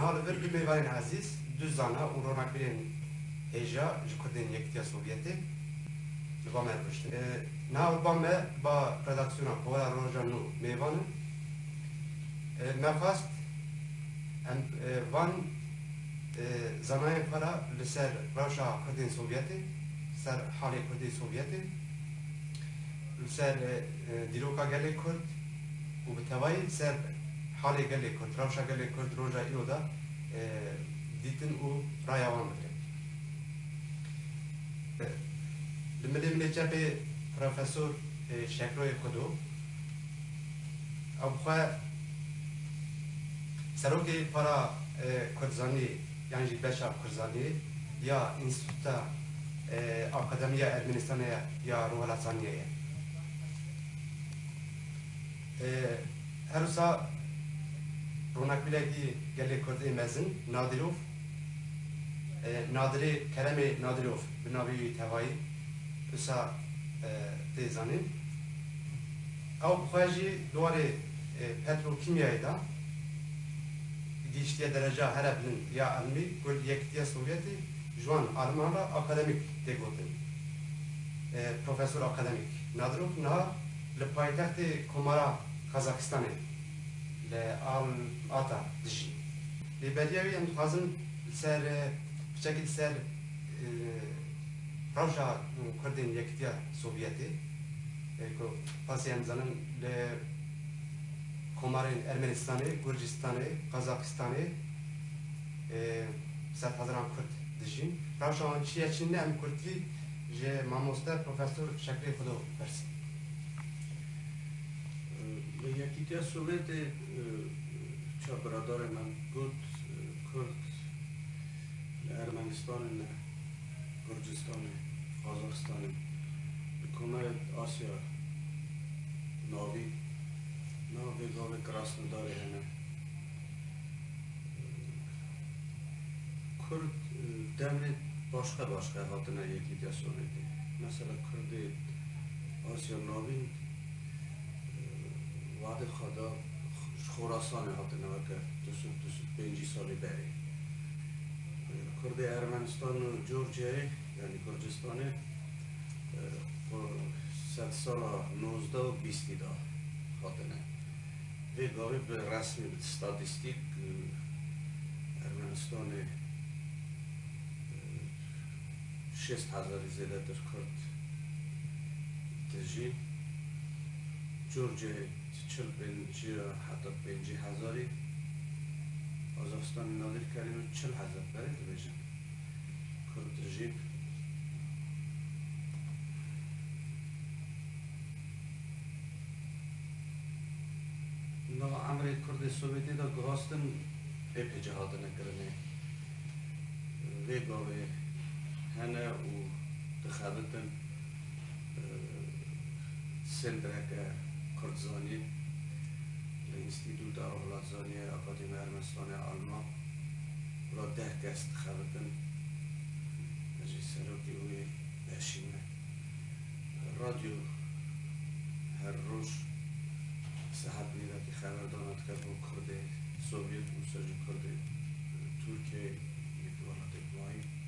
Niha li vir du mêvarên ezîz, du zana û ronakbîrên hêja ji Kurdên Yekîtiya Sovyetê li ba me re rûştin. Niha li ba me ba redaksiyona Pola Roja nû mêvan in. Me xwest em van Di zanayên xwe re li ser rewşa Kurdên Sovyetê, li ser halê Kurdê Sovyetê, li ser dîroka gelê Kurd û bi tevayî li ser halê gelê Kurd, rewşa gelê Kurd roja îro de dîtin û raya wan bigirin. Li milê milê çepê Profesor Şekroyê Xwedo. Ew bi xwe serokê para Kurdzanî yan jî beşa Kurdzanî ya Înstîtuta Akademiya Ermenistanê ya Rûhelataniyê ye. Her wisa ronakbîrekî gelê Kurd ê mezin Nadîrov Nadirê Keremê Nadîrov bi navê wî tevayî wisa tê zanîn. Ew bi xwe jî di warê petrokîmyayê de gihîştiye dereca here bilind ya elmî ku li Yekîtiya Sovyetî ji wan aliman re akademîk tê gotin. Profesor Akademîk Nadrov niha li paytextê Komara Qazaxistanê li Al-Ata dijî. Lê beriya wî em dixwazin li ser piçekî li ser rewşa Kurdên Yekîtiya Sovyetê. Ê ku qasî em dizanin li komarên Ermenistanê, Gurcistanê, Qazaxistanê sedhezaran Kurd dijîn. Rewşa wan çi ye çi ne em Kurdkî ji mamoste Profesor Şekirê Xwedo pirsîn. Li Yekîtiya Sowetê çar biradarên me got Kurd li Ermenistanê ne. Gurcistanê, Qazaxistanê, li Komara Asya Navî nav vê gavê Krasnodarê hene. Kurd devrê başka başka hatine Yekîtiya Sovyetê. Mesela Kurdê Asya Navî wadê xwe da ji Xorasanê hatine weke du sed du sed û pêncî salî berê. Kurdê Ermenistan û Georgiayê yanî Kurdistanê xwe sed sala nozdeh û bîstî da hatine. Vê gavê bi resmî bi statîstîk Ermenistanê şêst hezarî zêdetir Kurd tijîn. Georgiayê çil pênc heta pêncî hezarî Qazaxistanê Nadir Kerîmê çil hezar berê dibêjin. Kurd jî Nava emrê Kurdê Sowêtî de guhastin êpê cih hatine kirinê. Vê gavê hene û dixebitin. Sêndireke Kurdzanî li Înstîtûta Rojhilatzanî yê Akadêmiya Ermenistanê ya Alman la deh kes dixebitin. Min jî serokê wê beşî me. Radyo her roj saet nîvekê xeberdana dike bo Kurdê Sovyet û Seljûkurdê Tirkiyeyê yê di welatê Humayî.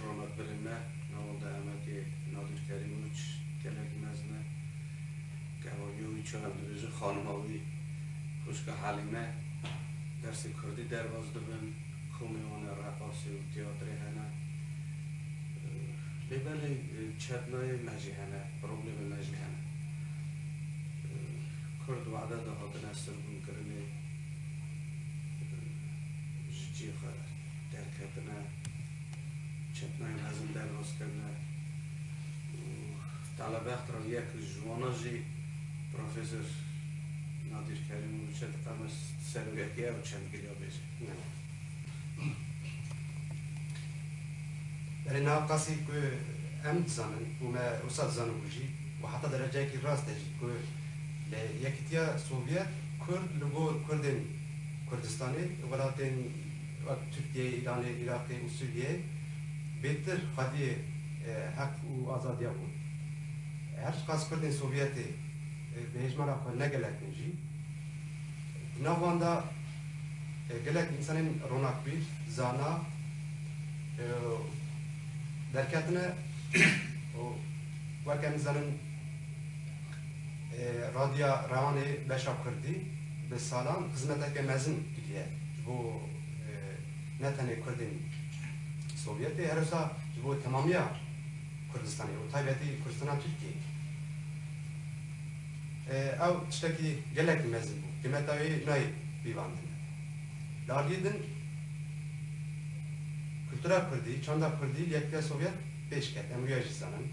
Rona pirê me na Wenda Emediyê Nadir Kerîm Uç gelek mezin e. Kevaniya wî çi hev dibêje xanima wî Xwîşka Helîme dersê kurdî derbas dibin, komê wan e reqasê û tîyatrê hene. Lê belê çetnayê me jî hene, problemê me jî hene. Kurd wede de hatine sirgûnkirinê ji ciyê xwe re. derketine, çetnayên hezin derhoz kirine û Talebexd re yek li ji wan jî Professor Nadîr Kerîm û Çet Qemes di ser wê hatiye ew çend giliya bêje. Berê niha qasî ku em dizanin û me wisa dizanibû jî û heta dereceyekî rast e jî ku li Yekîtiya Sovyet Kurd li gor Kurdên Kurdistanê welatên Wek Tirkiyeyê, Îranê, Îraqê û Sûriyeyê bêtir xwediyê heq û azadiya bûn. Her çiqas Kurdên Sovyetê bi hêjmara xwe ne gelek din jî, di nav wan de gelek însanên ronakbîr, zana derketine û wek em dizanin, Radya Reanê beşa Kurdî bi salan xizmeteke mezin kiriye ji bo ne tenê Kurdên Sovyetê her wisa ji bo temamiya Kurdistanê û taybetî Kurdistana Tirkiyeyê. Ew tiştekî gelekî mezin bû. Qîmeta wê nayê pîvandin. Li aliyê din kultura Kurdî, çanda Kurdî li Yekîtiya Sovyet, pêş ket, em rûya jî zanin.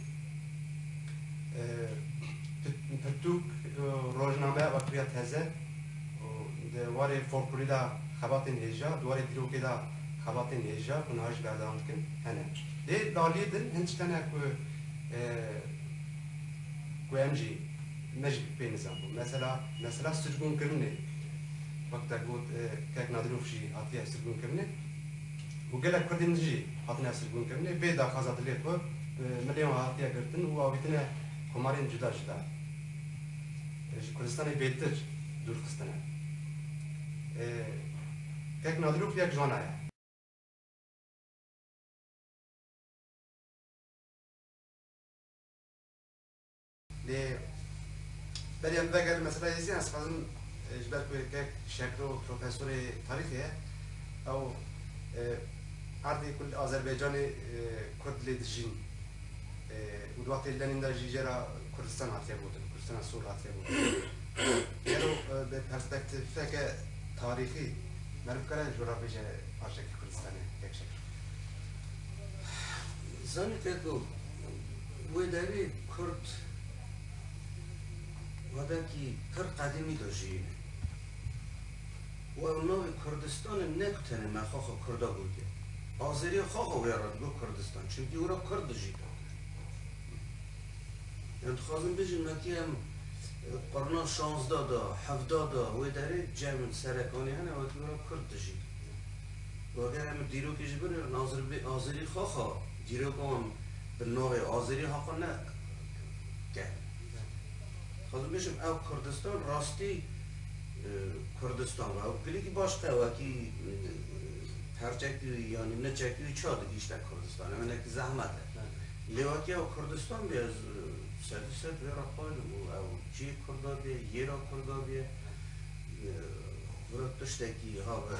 Pirtûk û rojnameya Bakirîya Teze û di warê folklorî de xebatên hêja, di warê dîrokê de xebatên hêja ku niha jî berdevam dikin hene. Lê di aliyê din hin tişt hene ku ku em jî me jî pê nizan bû. Mesela mesela sirgûnkirinê. Wek te got Kek Nadirov jî hatiye sirgûnkirinê. û gelek Kurdên din jî hatine sirgûnkirinê vê daxwaza dilê xwe bi milên wan hatiye girtin û avîtine komarên cuda cuda ji Kurdistanê bêtir dûrxistine. Kek Nadirov yek ji wana ye. Lê berî em vegere mesela Yezî ez xwezim ji ber ku yê kek şekro profesorê tarîxê ye ew erdê ku li Azerbaycanê kurd lê dijîn û di wextê Lenîn de jî jê re Kurdistan hatiye gotin, Kurdistana Sor hatiye gotin. Gelo bi perspektîfeke tarîxî meriv bikare ji we re bêje parçekî Kurdistanê kek şekro? Zanî te dom. Wê derê kurd wadekî pir qedîmî de jiyîne û ew navê Kurdistan e ne ku tenê me xwe xwe kurd a gotiye. Azerîya xwe xwe wê re digot Kurdistan çimkî wê re kurd dijît. Yan dixwazin bijîn me tî em qurna şanzda de hevda de wê derê cem in serekanî hene wekî wê re kurd dijîn. Û eger em dîrokê jî binêrin azerî xwe xwe Dîrokan bi navê Azerî haqa ne ke. Dixwazim bêjim ew Kurdistan rastî Kurdistan be. Ew girîkî baş qe wekî perçekî wî yanî niçekî wî ça digîşte Kurdistanê. Hinekî zehmet e. Lê wekî ew Kurdistan bîye ez sed û sed vê re qaylim û ew cihê Kurda bîye, yêra Kurda bîye, xwura tiştekî habe.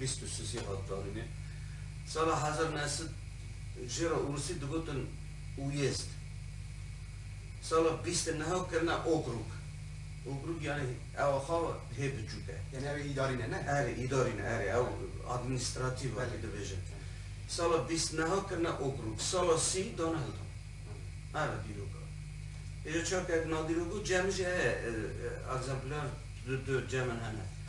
bîst û sisê hat danîne. Sala hezar û neh sed jê re Rûsî digotin Uyezd. Sala bîst û neh kirine Okrûk. Okrûk yanî ewa xawa hê biçûk e. Yanî ew ê îdarî ne ne? Erê îdarî ne erê ew administratîf e dibêjin. Sala bîst û neh kirine Okrûk. Sala sî dane Hilton. Erê dîrok e. Îja çar kevin a dîrok û cem jî heye. Ekzempler di cemên hene.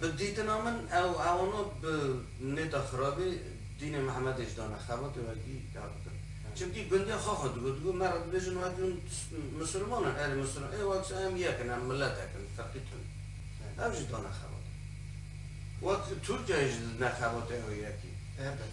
Bi dîtina min ew ewano bi nêta xirabî dînê Mihemedê jî dane xebatê wekî ya bikin. Çimkî gundiya xwe xwe digot, digot me re dibêjin wekî hûn misilman in, erê misilman ê wekî em yek in, em miletek in, ferqî tune. Ew jî dane xebatê. Wek Tirkiyeyê jî didine xebatê ew yekî. Elbet.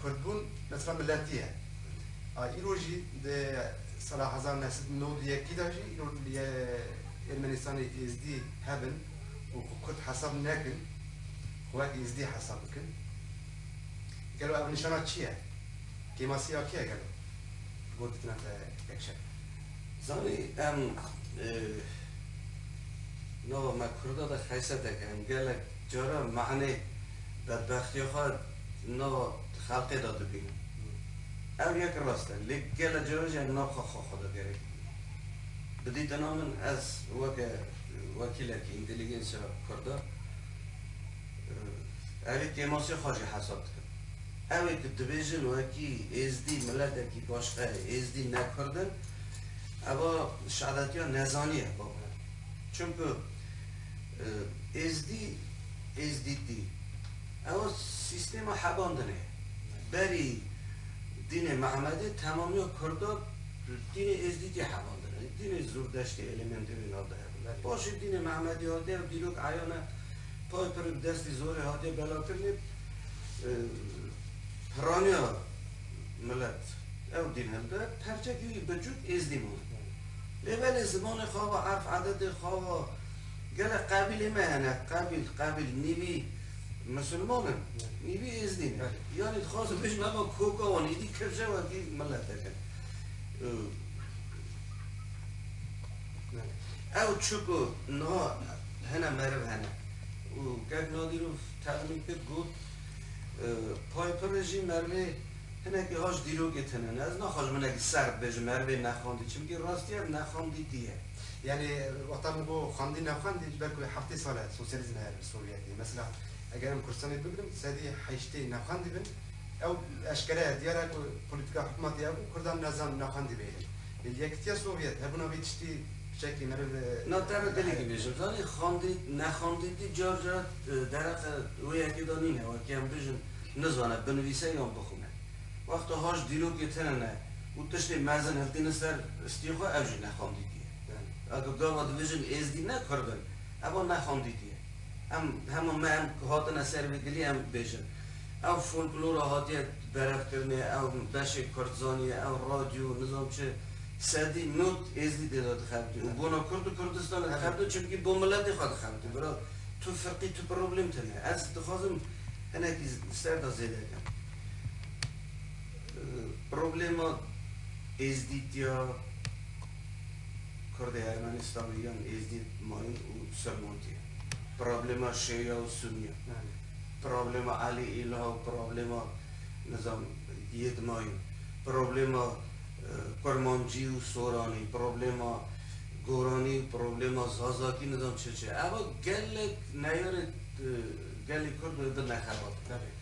Kurdbûn mesela miletî ye. A îro jî di sala hezar û neh sed û newd û yekî de jî îro li Ermenistanê Êzdî hebin û xwe Kurd hesab nekin, xwe wek Êzdî hesab bikin. Gelo ev nîşana çi ye? Kêmasî ya kî ye gelo? Ji bo ditina te yek şer. Zanî em nava me Kurda de xeysete kirin. Gelek cara mehanê bedbextîya xwe di nava xelkê de dibîne. Ev yek rast e, lê gelo cara jî em navxa xwe xwe de gerek bibînin? Bi dîtina min ez weke wekîlekî întelîgensiya kurda evî têmasiya xwe jî hesab dikim. Ew ê ku dibêjin wekî êzdî miletekî başqa ye, êzdî ne kurd in, eva şeadetiya nezanî ye, bavê min. Çimku. Êzdî, Êzdîtî, ew sîstêma heban din e. Berî dînê Mehmedê temamiya Kurdan bi dînê Êzdîtî heban din e. Dînê Zûrdeştî elemendê wê nav de hebûne. Paşê dînê Mehmedî hatiye ew dîrok eyan e. Tayê pir bi destê zorê hatiye belakirinê. Piraniya milet ew dîn hilda, perçekî wî biçûk Êzdî mûne. Lê belê zimanê xava, erf ededê xava, Gelek qabîlê me hene, qabîl, qabîl, nîvî misilman in, nîvî êzdî ne. Yanî dixwazin bêjin ava koka wan êdî kirje wekî miletek in. Ew çi ku niha hene meriv hene û kek Nadîrov tevlî kir got Piperê jî merivê hinekî haş dîrokê tune ne. Ez naxwazim hinekî sert bêjim merivê nexandî çimkî rastiya nexandîtî ye. Yanî wexta min got xwendî nexwendî ji ber ku heftê sal e sosyalîzm heye li Sovyetê. Mesela eger em Kurdistanê bigirin sedî heştê nexwendî bin ew eşkere ye diyar e ku polîtîka hikûmetê ew bû Kurdan ne zan nexwendî bihêlin. Lê li Yekîtiya Sovyet hebûna vî tiştî bi çekî meriv Na teme gelekî bêje. Zanî xwendî nexwendî dî car car dereqe wê yekê de nîne wekî em bijin nizane binivîse yan bixwîne. Wexta haş dîrokê tune ne. Û tiştê mezin hiltîne ser stî xwe ev jî nexwendîtî ye. A ku gava dibijin êzdî ne kurd in, evo nexwendîtî ye. Em hema me em ku hatine ser vê dilî em bêjin. Ew folklora hatiye berevkirinê, ew beşê kurdzanî ye, ew radyo, nizam çi, sedî not êzdî tê de dixebitî. Û bona kurd û Kurdistanê dixebitî çimkî bo miletê xwe dixebitî. Bira tu firqî tu problem tune. Ez dixwazim hinekî ser de zêde kim. Problema êzdîtiya Kurdê Ermenistanê yan êzdît mayîn û sermotî ye. Problema şîya û sunî ye. Problema Elî Îlha û problema nizam yê di mayîn. Problema Kurmancî û Soranî, problema Goranî û problema Zazakî nizam çi çi ye. Eva gelek neyarê gelê Kurd bi nexebat in.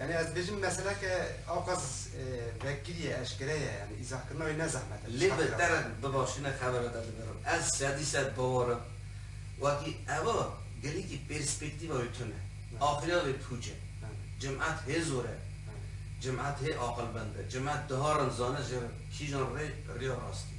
Yani ez dibêjim mesela ke awqas vekirîye, eşkere ye yani îzahkirina wê ne zehmet e. Lê bi te re bi başî ne xebere te dibirim. Ez sedî sed bawar im wekî eva gelekî perspektîva wê tune. Axiriya wê pûc e. Cemat hê zor e. Cemat hê aqilmend e. Cemat diharin zane ji kîjan rê rêya rastî.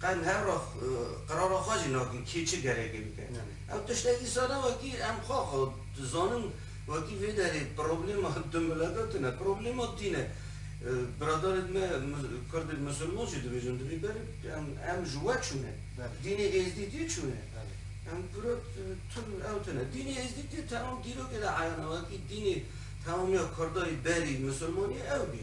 Qehm her roh qerara xwe jî nakin kê çi gerekê bike. Ew tişte dîsa ne wekî em xwe xwe dizanin wekî vê derê problema du milata tune. Problema tî ne. Biradarên me Kurdên Musulman jî dibêjin di vî berê em ji we çûne. Dînê Êzdî tî çûne. Em piro tun ew tune. Dînê Êzdî tî temam dîrokê de eyan e wekî dînê temamiya Kurdayê berî Musulmaniyê ew bî.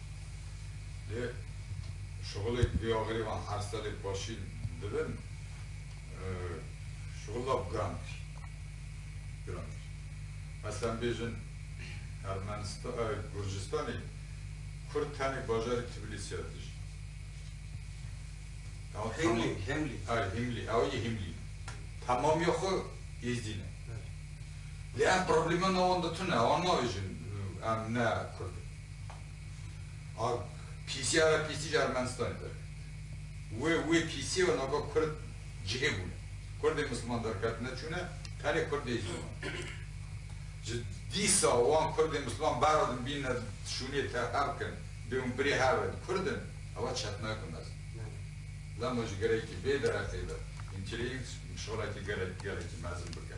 Lê şixulêk vê axirê van her serê paşîl dibin şixul lap girantir girantir. Meselen bêjin Ermenistan Gurcistanê Kurd tenê bajarê Tbilîsî ya dijî. Himlî, Himlî. Ay Himlî, ew yê Himlî. Temamîya xwe Êzdî ne. Lê em problema navenda tune, wan navêjin em ne Kurd in. A pîsiya re pîsî ji Ermenistanê derket. Wê wê pîsiyê re navka Kurd cihê bûne. Kurdê Misliman derketine çûne, tenê Kurdê Îslam. Ji dîsa wan Kurdê Misliman berra din bînine şûnê te her kin, bê hûn birê her re Kurd in, ewa çetinayek bi mezin e. Lema ji gerekî vê dereqê ve hîn kireyî û şolekê gelekî mezin bike.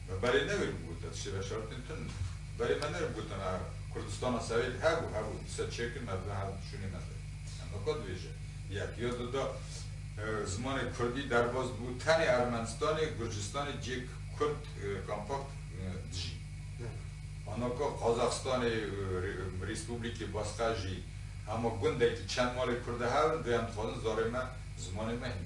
Me berê newê bû te tiştê ve şertên tund in. Berê me newê bû tena Kurdistana Serêt hebû hebû di ser çêkin me ve her dişûnê me de. Em weka dibêje. Yekîya di da zimanê Kurdî derbas dibû tenê Ermenistanê, Gurcistanê cêk Kurd kampakt dijî. Ana ka Qazaxistanê Rîspublikê Basqer jî hema gundekî çend malê Kurd de hev in, duyem dixwazin zarê me, zimanê me hîn.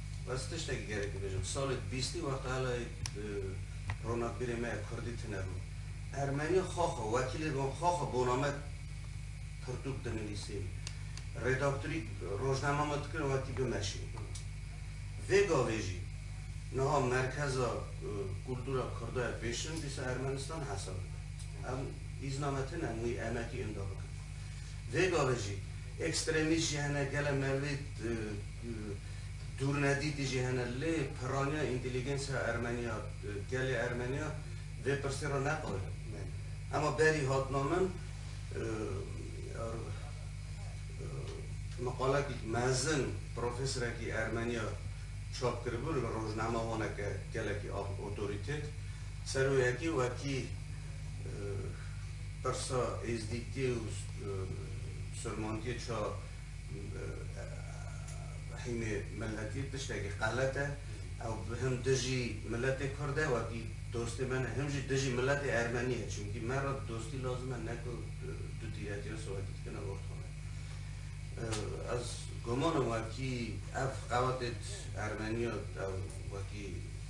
Ez tiştekî gerek bibêjim. Salê bîstî wexta helayê ronakbîrê me ya kurdî tune bû. Ermenî xwe xwe, wekîlê wan xwe xwe bona me pirtûk dinivîsî. Redaktorî rojnama me dikir wekî bimeşî. Vê gavê jî niha merkeza kultura kurda ya pêşin dîsa Ermenistan hesab dibe. Em îzna me tune em wî emekî inda bikin. Vê gavê jî ekstremîst jî hene, gele merivê Dûrnedîtî jî hene lê pirraniya întelîgensa ermenî ya gelê ermenî ya vê pirsê ra ne qal e. Ema berî hatina min meqalekî mezin profeserekî ermenî ya çap kiribû li rojname honeke gelekî otorîtet ser wê yekê wekî pirsa êzdîtî û sirmantîyê ça Hîmê miletî tiştekî qelet e. Ew him dijî miletê kurd e wekî dostê min e, him jî dijî miletê ermenî ye. Çimkî me re dostî lazim e ne ku du tîretiya sowetî dikine û dixwin. Ez guman im wekî ev qewetê ermenî ya ew wekî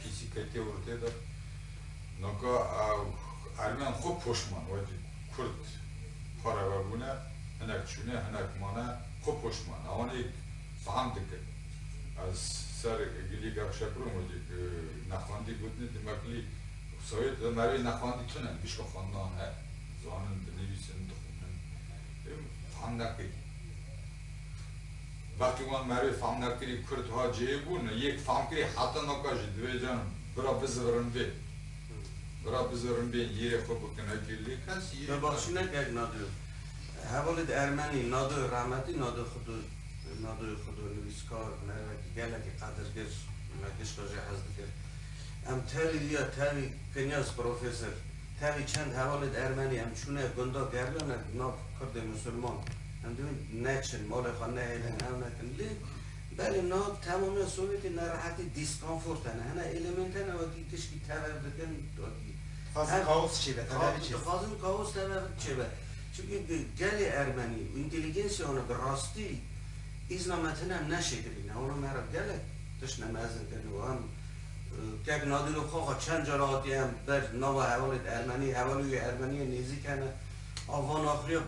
Kîsî ketiye ortê de. Noka ermên xwe poşman wekî kurd xwe re vebûne, hinek çûne, hinek mane, xwe poşman e. Wan êk feham dikin. Ez ser Gilî Gevşekurûm wekî nexwendî gotinê di Meklî û Sowêt de merivê nexwendî tune, bişka xwendan heye, dizanin, dinivîsin, dixwînin. Ê min feham nekiriye. Wextî wan merivê famnerkirî kurd hat cihê bûn û yek famkirî heta noka jî divê can bira bizivirin vê bira bizivirin bên lîrê xwe bikin hekî lê kes yê Me baxşî nekek Nadoyo. Hevalê di ermenî Nadoyo rahmetî Nado Xwdo Nadoyo Xwdo nivîskar merivekî gelekî qedirgir me gişka jê hez dikir. Em tevî wî ya tevî Kinyas profesor tevî çend hevalê di ermenî em çûne gunda Gerlanek nav kurdê musulman Hindu neçin, malê xwe nehêlin, ew nekin. Lê belê na temamiya Sovyetê nerehetî, diskonfort hene. Hene elemênt hene wekî tişkî tevev dikin, wekî. Dixwazin kaos çêbe, tevevê çêbe. Dixwazin kaos tevev çêbe. Çimkî gelê ermenî û întêlîgênsîya wan bi rastî îzna me tune neşêkirîne. Wana me re gelek tişt ne mezin kirine. Wan kek Nadîrê Xaxa çend cara hatiye em ber nava hevalê de ermenî, hevalûyê ermenî ye nêzîk hene. A van axiya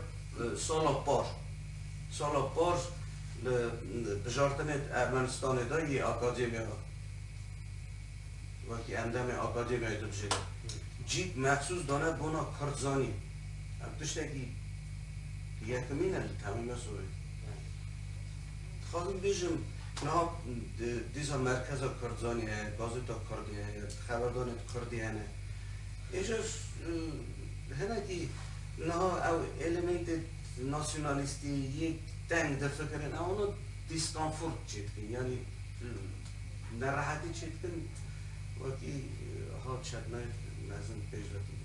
sala par. Sala par li bijartinê di Ermenistanê de yê akademya de wekî endemê akademyayê dibijêre. Cîk mexsûs dane bona kurdzanî. Ev tiştekî yekimîn e li temî me sorê. Dixwazim bêjim niha dîsa merkeza kurdzanî heye, gazeta kurdî heye, xeberdanê di kurdî hene. Îcar hinekî niha ew elemêntê nasyonalîstî yê teng difikirin ew hûna dîskonfort çê dikin yanî nerehetî çê dikin wekî hat çeknayîf mezin pêş ve tîne.